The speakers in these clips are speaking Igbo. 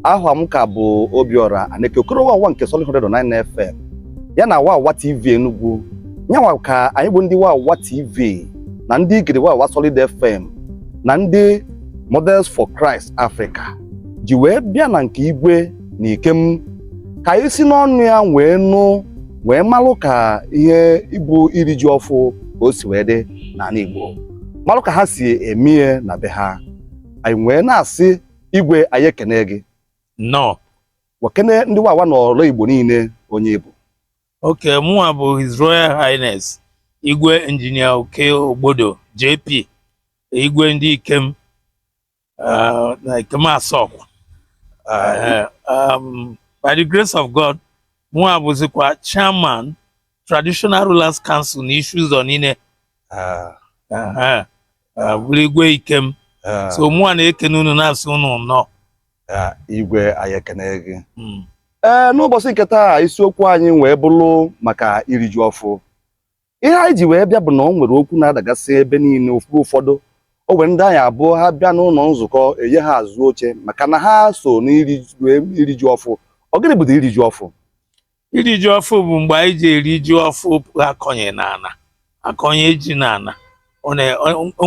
aha m ka bụ Obiora Aneke Okoro Wawa nke Solid 109 FM ya na Wawa TV Enugu nyanwa ka anyị bụ ndị Wawa TV na ndị Igede Wawa Solid FM na ndị Models for Christ Africa ji wee bịa na nke Igwe na Ikem ka anyị si n'ọnụ ya wee nụ wee malụ ka ihe ịbụ iri ji ọfụ ka o si wee dị n'ala Igbo malụ ka ha si eme ihe na be ha anyị wee na-asị igwe anyị ekene gị nnọọ wee kene ndị Wawa n'ọrụ Igbo niile onye ị bụ okay mụnwa bụ His Royal Highness Igwe Injinia Okey Ogbodo JP Igwe ndị Ikem uh, Ikem Asokwa. Um, by the grace of God, mụwa bụzikwa, chairman, Traditional Rulers Council, na Isi-Uzo niile. Uh, uh, uh, bụrụ Igwe Ikem. Uh, so mụwa na-ekene unu na-asị unu nnọọ. Uh, igwe anyị ekene gị. Hmm. Ee, eh, n'ụbọchị nke taa isiokwu anyị wee bụrụ maka iri ji ọfụ. ihe anyị ji wee bịa bụ na o nwere okwu na-adagasị ebe niile ụfọdụ o nwere ndị anyị abụọ ha bịa n'ụlọ nzukọ e nye ha azụ oche maka na ha so n'iri ji ọfụ ọ gịnị bụ iri ji ọfụ iri ji ọfụ bụ mgbe anyị ji eri ji ọfụ a kọnye n'ana a kọnye ji n'ana o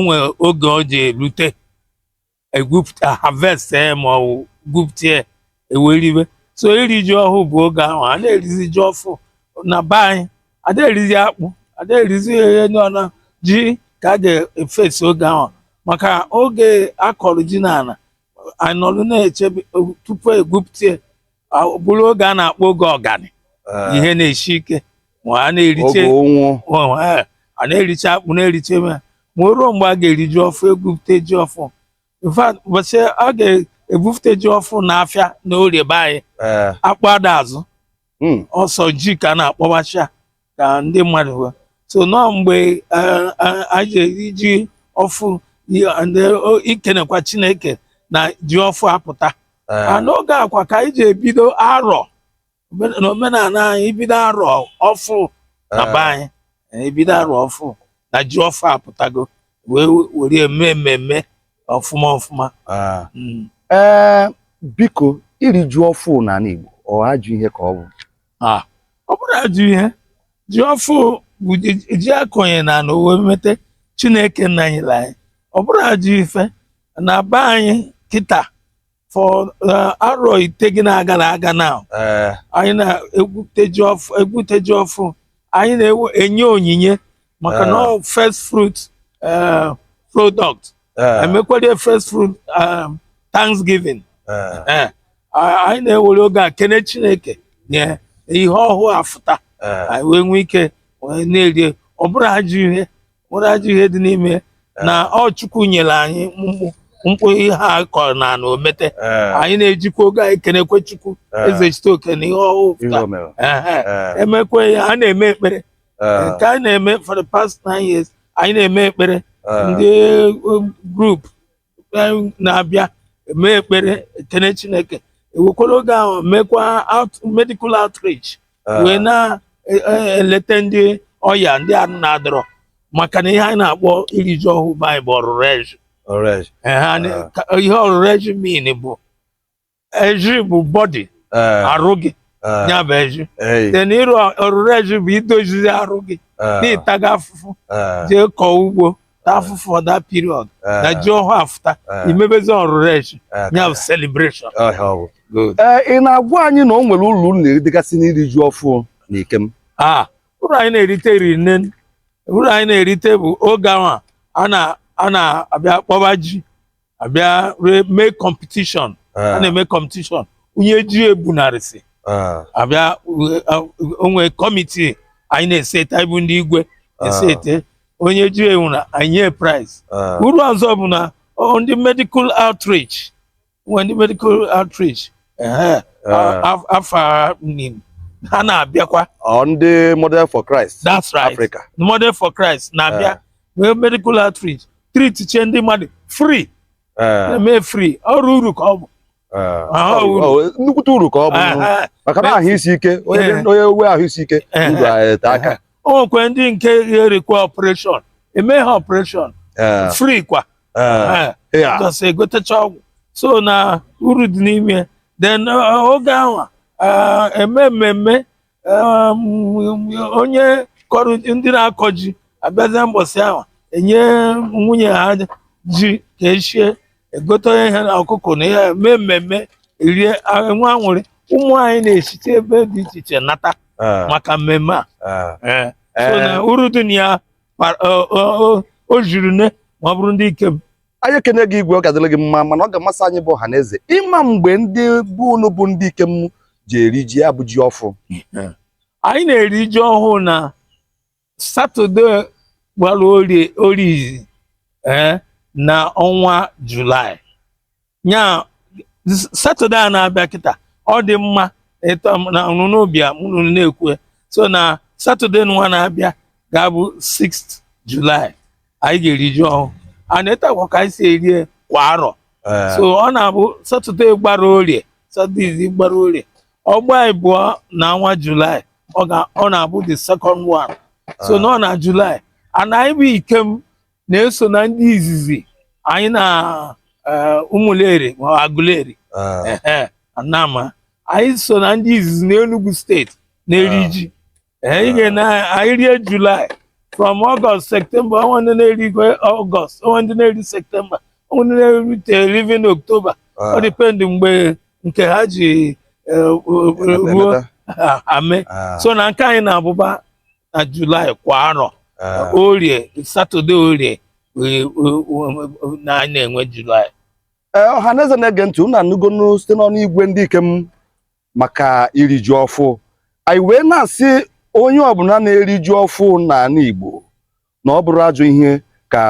nwere oge o ji erute e harvest ya ma ọ bụ gwupụta ya e wee ribe so iri ji ọhụụ bụ oge ahụ a na-erizi ji ọfụ na be anyị ada erizi akpụ ada erizi ihe ndị ọna ji ka a ga-efesi oge ahụ maka oge a kọrọ ji n'ala a nọrụ na-echebe tupu e gwupụta ya bụrụ oge a na-akpọ oge ụganị eh. ihe na-eshi ike ma a na-eriche eh, a na-eriche akpụ na-eriche ma ma o ruo mgbe a ga-eri ji ọfụ e gwupụta ji ọfụ in fact ụbọchị a ga-ebufute ji ọfụ na afịa na orie be anyị eh. akpụ ada azụ hmm. ọ sọ ji ka a na-akpọbacha ka ndị mmadụ hụ so nọ mgbe eh, eh, anyị ji eri ji ọfụ i- and, eh, o- ikenekwa chineke na ji ọfụ apụta Eh, and n'oge a kwa ka anyị ji ebido arọ Omen- na omenala anyị ibido arọ ọfụ na be anyị eh, ebido arọ ọfụ na ji ọfụ apụtago wee were eme mmemme ọfụma ọfụma eh. Mm. ee biko iri ji ọfụ n'ala Igbo ọ ajọ ihe ka ọ bụ Ah, ọ bụrọ ajọ ihe ji ọfụ bụ ji- ji akọnye n'ana o wee mete chineke nna nyele anyị ọ bụrọ ajọ ife na be anyị kịta for eh, arọ itegịna gala aga now anyị na-egwute ji ọfụ egwute ji ọfụ anyị na-enye onyinye maka na ọ first fruit eh, product eh. emekwere first fruit eh, thanksgiving anyị na-ewere oge a kene chineke na ihe ọhụụ afụta anyị wee nwee ike na-erie ọ bụrọ ajọ ihe bụrọ ajọ ihe dị n'ime na ọ chukwu nyere anyị mkpụ mkpụ ihe a kọrọ n'ana o mete eh. anyị na-ejikwa oge anyị kenekwe chukwu eh. Ezechitoke na ihe ọhụụ emekwe ya a na-eme ekpere Eh. nke anyị na-eme for the past nine years anyị na-eme ekpere Eh. ndị um, group anyị na-abịa eme ekpere ekene chineke ewekwara oge ahụ mekwa out, medical outreach Eh. wee na-eleta ndị ọya ndị arụ na-adịrọ maka na ihe anyị na-akpọ iri ji ọhụụ be anyị bụ ọrụrụ ezhi Alright. Eh, ha na- Eh. ka- ihe ọrụrụ ezhi mean bụ ezhi bụ body eh, arụ gị eh, ya bụ ezhi ei, then ịrụ ọrụrụ ezhi bụ idozizi arụ gị eh, na ị taga afụfụ eh, jee kọọ ugbo ta afụfụ all that period eh, na ji ọhụụ afụta eh, i mebezi ọrụrụ ezhi eh, ya bụ celebration eh, ọ bụ. Good. ee ị na-agwa anyị na o nwere uru unu na-eritegasị n'iri ji ọfụ na Ikem Ah, uru anyị na-erite riri nne uru anyị na-erite bụ oge ahụ a na a na-abịa akpọba ji abịa ree mee competition a Eh, na-eme competition onye ji ebunarịsị eh, abịa we- a- o nwe committee anyị na-eseta ibu ndị igwe esete onye ji ebunarị enye prize eh, uru ọzọ bụ na ọ- ndị medical outreach nwe ndị medical outreach ehe, a- eh. a- afọ niine ha na-abịakwa Ọ ndị model for Christ that's right Africa. model for christ na-abịa nwee medical outreach treatichie ndị mmadụ free eh. eme free ọrụ uru ka ọ bụ eh. ah, nnukwute uru ka ọ bụ ah, maka na ahụ isi ike onye eh. nwe ahụ isi ike ndụ ete aka o nwekwe ndị nke ga-erequire operation eme ha operation free kwa just egotecha ọgwụ so na uru dị n'ime then oge ahụ eme mmemme onye kọrọ ndị na-akọ ji abịazie mbọsị ahụ enye nwunye ha ji ka eshie egote ya ihe na ọkụkọ na ihe mee mmemme erie enwe anwụrị ụmụ anyị na-esite ebe dị iche iche nata ah. maka mmemme a ah. eh. so na uru dị na ya o zhiri nne ma ọ bụrụ ndị Ikem anyị ekene gị igwe ọ ga-adịrị gị mma mana ọ ga-amasị anyị bụ ọha na eze ịma mgbe ndị bụ unu bụ ndị ikem ji eri ji a bụ ji ọfụ anyị na-eri ji ọhụụ na satọde gbara orie izi eh, na ọnwa julaị nya satọde a na-abịa kịta ọ dị mma na unu bịa mụ na unu na-ekwu so na satọde nwa na-abịa ga-abụ 6th julaị anyị ga-eri ji ọhụụ and etu a kwa ka anyị si erie kwa arọ eh. so ọ na-abụ satọde gbara orie satọde izi gbara orie ọ gbaa ịbụọ na ọnwa julaị ọ na-abụ the second one so nọ na julaị and anyị bụ ikem na-eso na ndị izizi anyị na eh, ụmụleri ma agụleri eh. anam anyị so na ndị izizi n'Enugu steeti na-eri ji anyị ga-ene anyị rie July from August September o nwe ndị na-eri August o nwe ndị na-eri September o nwe ndị na-eri te- even October ọ dịpendị mgbe nke ha ji eh, ruo ame so na nke anyị na-abụba na July kwa arọ orie satọde orie eh, eh, na anyị na-enwe July ee ọhaneze na-ege ntị unu anụgonu site n'ọnụ igwe ndị ikem maka iri ji ọfụ anyị wee na-asị onye ọbụla na-eri ji ọfụ n'ana Igbo na ọ bụrọ ajọ ihe ka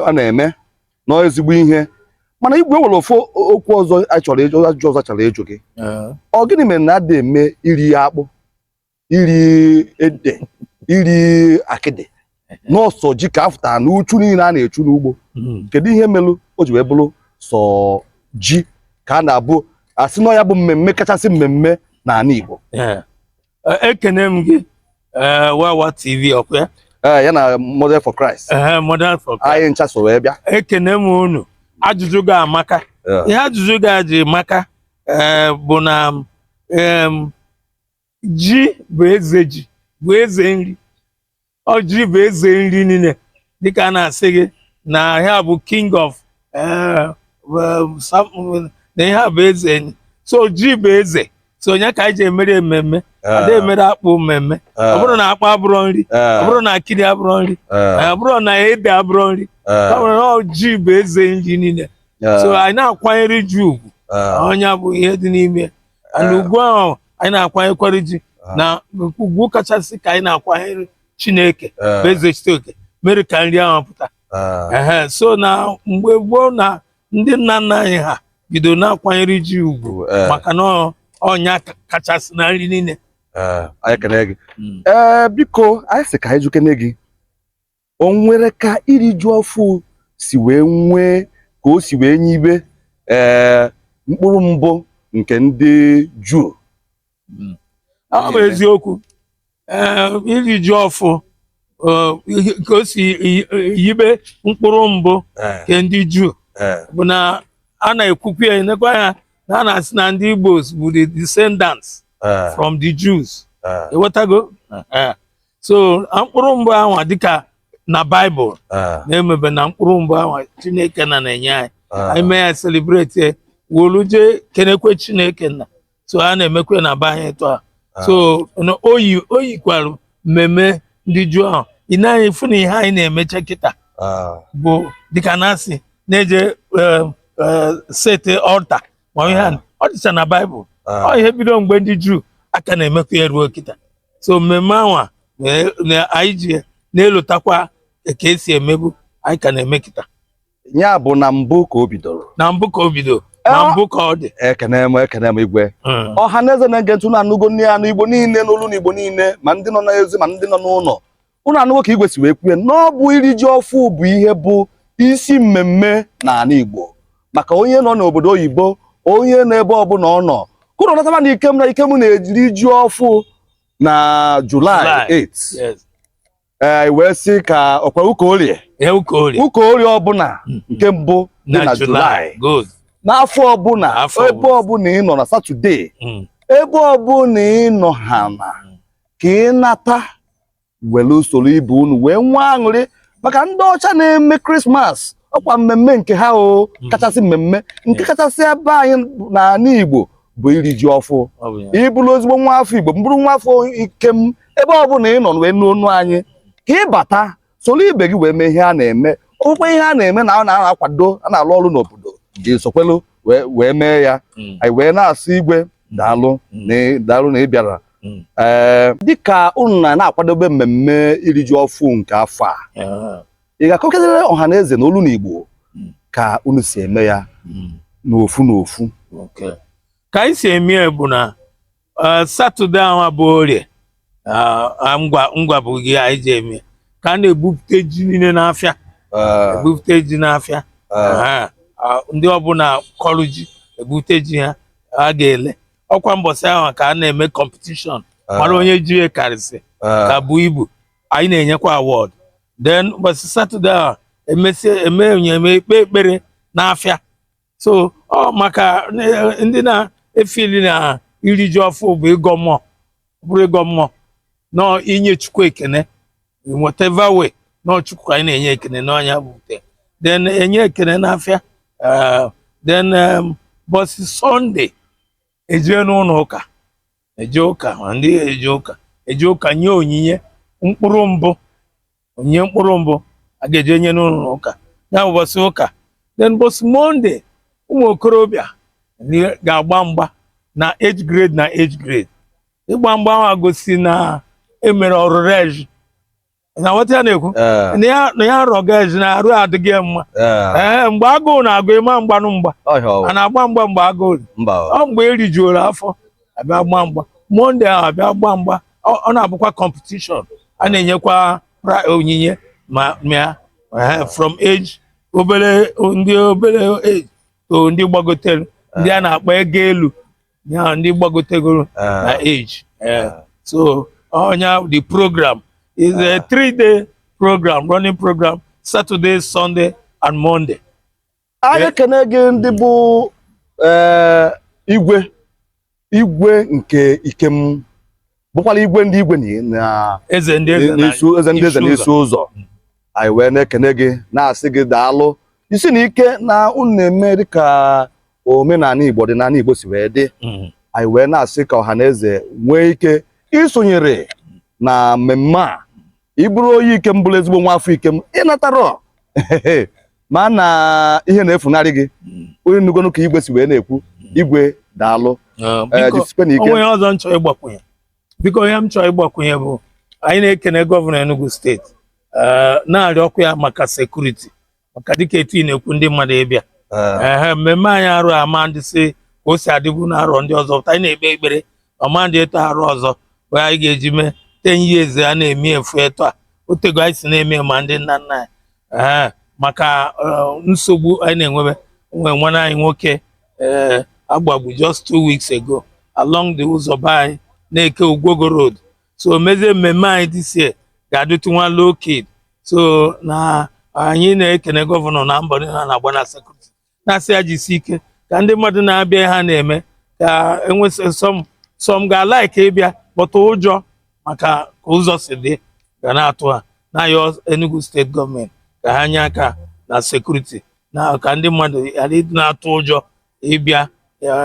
a na-eme na ọ ezigbo ihe mana igwe e nwere ofu okwu ọzọ a chọrọ ịjụ ajụjụ ọzọ a chọrọ ịjụ gị ọ gịnị mere na adị eme iri akpụ iri ede iri akịdị na ọ sọ ji ka a fụtara na uchu niile a na-echu n'ugbo hmm. kedu ihe melụ o ji wee bụrụ sọ ji ka a na-abụ a sị na ọ ya bụ mmemme kachasị mmemme n'ana Igbo ekene m gị eh, wawa tv ọkwa ya eh, ya na model for Christ eh, model for Christ anyị ncha so wee bịa ekene m unu ajụjụ gị amaka ihe ajụjụ gị ji maka bụ na ji bụ eze ji bụ eze nri ọ ji bụ eze nri niile dịka a na-asị gị na ihe a bụ king of eh, um, some- na ihe a bụ eze nri so ji bụ eze so ọ nya ka anyị ji emere ememme ada emere akpụ mmemme ọ bụrọ na akpụ abụrọ nri ọ bụrọ na akịdị abụrọ nri ọ bụrọ na ede abụrọ nri ọ bụrụ na ọ ji bụ eze nri niile so anyị na-akwanyere ji ugwu ọ nya bụ ihe dị n'ime ya. and ugwu ahụ anyị na-akwanyekwara ji ah. na ugwu kachasị ka anyị na-akwanyere Chineke eh. bụ Ezechitoke mere ka nri ahụ pụta eh. so na mgbe gboo na ndị nna nna anyị ha bido na-akwanyere ji ugwu eh. maka na ọ nya kachasị na nri niile anyị kene gị hmm. ee biko anyị sị ka anyị jụkene gị o nwere ka iri ji ọfụ si wee nwee ka o si wee yibe ee eh, mkpụrụ mbụ nke ndị juu hmm. ọ bụ eziokwu eh, iri ji ọfụ eh, ka o si yibe mkpụrụ mbụ nke ndị juu bụ na a na-ekwukwu ya nekwa anya na a na-asị na ndị Igbo bụ the descendants from the Jews ịghọtago so a mkpụrụ mbụ ahụ dịka na baịbụl ah, na-emebe na mkpụrụ mbụ ahụ chineke nna na-enye anyị ah, anyị mee ya selebreti ya wolu jee kenekwe chineke nna so a na-emekwe na be anyị etu a ah. so na o yi o yikwara mmemme ndị juu ahụ ị nee anya ị fụ na ihe anyị na-emecha kịta ah, bụ dịka na-asị na-eje eh, eh, sete ọlta ma ihe a ọ dịcha na baịbụl ọ ihe bido mgbe ndị juu a ka na-emekwa ya ruo kịta so mmemme anwa na- na- anyị ji na-elotakwa ka e si emebu anyị ka na-eme kịta ya bụ na mbụ ka o bidoro na mbụ ka o bido na Eh, mbụ ka ọ dị ekene m ekene m igwe Mm. ọha na eze na-ege ntị unu anụgo nne anụ igbo niile n'olu na igbo niile ma ndị nọ n'ezi ma ndị nọ n'ụlọ ụnụ anụgo ka igwe si wee kwue na ọ bụ iri ji ọfụ bụ ihe bụ isi mmemme n'ala Igbo maka onye nọ n'obodo oyibo onye nọ ebe ọbụla ọ nọ ka ụnụ nataba na ikem na ikem na-eje iri ji ọfụ na Julaị 8 ee wee sị ka ọkwa ụka orie ụka orie ọbụla hmm. nke mbụ dị na Julaị n'afọ ọbụla ebe ọbụla ị nọ na Satọde hmm. ebe ọbụla ị nọ ha na hmm. ka ị nata were soro ibe unu wee nwee aṅụrị maka ndị ọcha na-eme krismas ọkwa mmemme nke ha o hmm. kachasị mmemme nke kachasị ebe anyị n'ala igbo bụ iri ji ọfụ ị bụrụ ezigbo nwa afọ igbo ma bụrụ nwa afọ ikem ebe ọ bụla ị nọ wee nụ onu anyị ka ị bata soro ibe gị wee mee ihe a na-eme ọkwa ihe a na-eme na a na-akwado a na-alụ ọrụ n'obodo gị sokwelu wee mee ya hmm. anyị wee na-asị igwe daalụ hmm. daalụ na ị bịara hmm. ee dịka unu na na-akwadobe mmemme iri ji ọfụ nke afọ a ah. ị ga-akọkịtara ọha na eze na olu na igbo ka unu si eme ya n'ofu n'ofu ka anyị si eme ya bụ na Eh, satọde ahụ bụ orie ah, ah, ngwa ngwa bụ oge anyị ji eme ka a na-ebupụta ji niile n'afịa Eh, ebupụta ji n'afịa eh, Aha. Ah, ndị ọbụla kọrụ ji ebupụta ji ha a ga-ele ọkwa mbọsị ahụ ka a na-eme kọmpetishọn mara onye ji ya karịsị eh, ka bu ibu anyị na-enyekwa awọd den ụbọchị satọde ahụ emesie eme onye eme e kpee ekpere n'afịa so ọ maka eh, ndị na-efili na iri ji ọfụ bụ ịgọ mmụọ bụrụ ịgọ mmụọ n'ọ inye chukwu ekene whatever way n'ọ chukwu ka anyị na-enye ekene n'ọnya bụ ute then enye ekene n'afịa eh, then bọsị sọnde ejee n'ụlọ ụka eje ụka ma ndị eje ụka eje ụka nye onyinye mkpụrụ mbụ onyinye mkpụrụ mbụ a ga-eje nye n'ụlọ ụka ya bụ bọsị ụka then bọsị monde ụmụ okorobịa ga-agba mgba na age grade na age grade ịgba mgba ahụ gosi na e mere Orurezhi na nwata ya na-ekwu Eh, na ya- na ya arọ gaji na arụ adịghị ya mma eh, ee mgbe agụụ na-agụ ị ma agbanụ mgba ọhịa ọwụ. a na-agba mgba mgbe agụụ dị. Mba ọwụ. ọ mgbe erijuoro afọ abịa gba mgba monde ahụ abịa gba mgba ọ ọ na-abụkwa kọmpetishọn a na-enyekwa pra- onyinye ma mịa eh, from age obere ndị obere age to ndị gbagotere ndị a na-akpọ ego elu ya bụ ndị gbagotegoro ah. na age eh, ah. so onye oh, the program is a ah. three day program running program Saturday Sunday and Monday. anyị ekene eh. gị ndị bụ eh, igwe igwe nke Ikem bụkwala igwe ndị igwe na eze ndị eze na- n'isu eze ndị eze isi n'Isi Ụzọ anyị wee na-ekene gị na-asị gị daalụ isi na ike na unu na-eme dịka omenani Igbo dị n'ani Igbo si wee dị Mm. anyị wee na-asị ka ọha na eze nwee ike isonyere na mmemme a ị bụrụ onye Ikem bụrụ ezigbo nwa afọ Ikem ị natarọ maa na ihe na-efunarị gị hmm. onye nnugonu ka igwe si wee na-ekwu hmm. igwe daalụ ah, eh, o nwe ọzọ m chọrọ ịgbakwunye biko ihe m chọrọ ịgbakwunye bụ anyị na-ekene gọvanọ Enugu steeti eh, na-arịọkwu ya maka sekuriti maka dịka etu ị na-ekwu ndị mmadụ ịbịa ee eh. mmemme anyị arọ a ama adịzi ka o si adịbu na arọ ndị ọzọ but anyị na-ekpe ekpere ọ ma adị etu a arọ ọzọ wee anyị ga-eji mee ten years a na-eme efu etu a o tego anyị si na-eme ma ndị nna nna anyị ee maka eh, nsogbu anyị na-enwebe o nwe nwanne anyị nwoke ee eh, a gbagbu just two weeks ago along the ụzọ be anyị Neke Ugwogo road so mezie mmemme anyị this year ga-adịtụ nwa low keyed so na anyị na-ekene gọvanọ na mbọ niile na-agba na sekuriti na-asị ya jisi ike ka ndị mmadụ na-abịa ihe ha na-eme ka e nwe some some ga-alaiki ịbịa but ụjọ maka ka ụzọ si dị ga na-atụ ha na-ayọ Enugu steeti gọọmenti ka ha nye aka na sekuriti na ka ndị mmadụ ghara ịdị na-atụ ụjọ ịbịa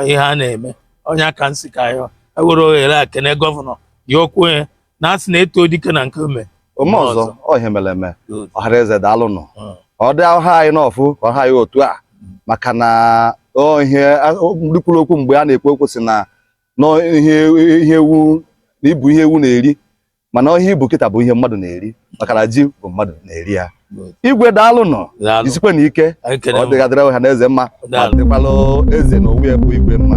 ihe a na-eme ọ nya ka m sị ka yọ ewere ohere a kene gọvanọ ya okwue na a sị na e too dike na nke o me o me ọzọ ọ ihe mere eme ọha na eze daalụ nụ hmm. ọ dị ọ ha anyị n'ọfụ ka ọ ha anyị otu a hmm. maka na ihe ndị kwuru okwu mgbe a na-ekwu okwu sị na ihe ewu na i bu ihe ewu na-eri mana ihe i bu kịta bụ ihe mmadụ na-eri maka na ji bụ mmadụ na-eri ya igwe daalụ nụ jisikwenụ ike ọ dị ga-adịrị ọha na eze mma ma dịkwalụ eze na onwe ya bụ igwe mma